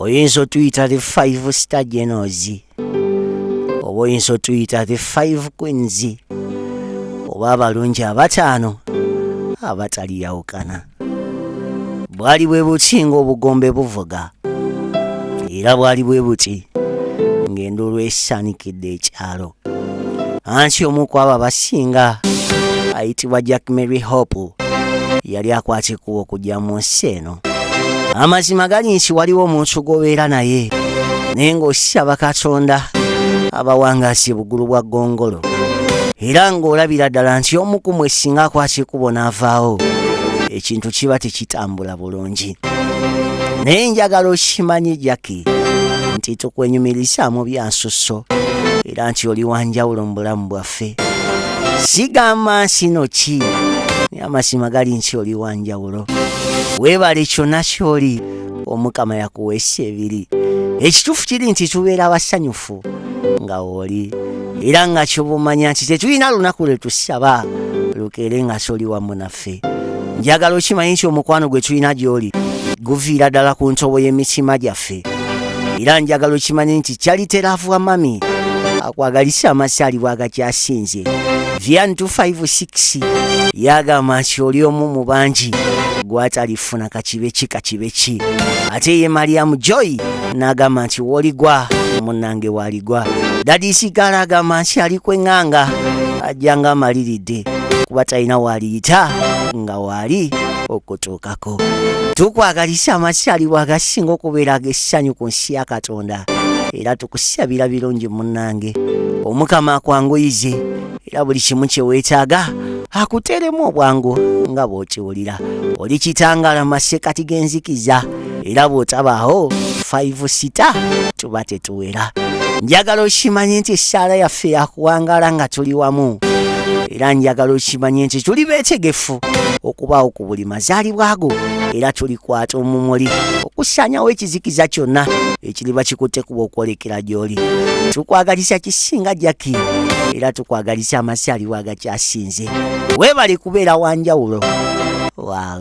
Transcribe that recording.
oyinza otuyita the five star genos oba oyinza otuyita the five queens oba abalungi abataano abataliyawukana bwali bwe buti ng'obugombe buvuga era bwali bwe buti ng'enduulu esanikidde ekyalo ansi omu ku abo abasinga ayitibwa jack mary hope yali akwata ekkubo okujja mu nsi eno amazima gali nti waliwo omuntu gw'obeera naye naye ng'osaba katonda abawangaasi bugulu bwa gongolo era ng'olabira ddala nti omu ku mwe singa akwata ekkubo n'avaawo ekintu kiba tekitambula bulungi naye njagala okimanye jaki nti tukwenyumirizaamu byansusso era nti oli wanjawulo mu bulamu bwaffe sigamba nsino ki naye amazima gali nti oli wanjawulo weebale kyonna kyoli omukama yakuweesa ebiri ekituufu kiri nti tubeera abasanyufu nga wooli era nga kyobumanya nti tetulina lunaku lwe tusaba lukeere nga kyoli wamu naffe ffe njagala okimanyi nti omukwano gwe tulina gy'oli guviira ddala ku ntobo y'emitima gyaffe era njagala okimanyi nti kyaliteravu wa mami akwagalisa amasaali bwagakyasinze vian 256 yagamba nti oli omu mu bangi gwatalifuna kakibe ki kakibe ki ate ye mariamu joy n'agamba nti woligwa munange waligwa dadisigala agamba nti ali kweŋŋanga ajja nga amaliridde kuba talina waaliyita nga waali okutuukako tukwagalisa amasalibwa agasinga okubeera ag'essanyu ku nsi ya katonda era tukusabira birungi munnange omukama akwanguyize era buli kimu kye weetaaga akuteeremu obwangu nga bw'okiwulira oli kitangala masekati g'enzikiza era bw'otabaawo five sita tuba tetuwera njagala okimanye nti essaala yaffe yakuwangaala nga tuli wamu era njagala okimanye nti tuli beetegefu okubaawo ku buli mazaalibwa go era tulikwata omumuli okusaanyawo ekizikiza kyonna ekiriba kikutte kuba okwolekera gy'oli tukwagalisa kisinga jaki era tukwagalisa amasaalibwa agakyasinze weebale kubeera wanjawulo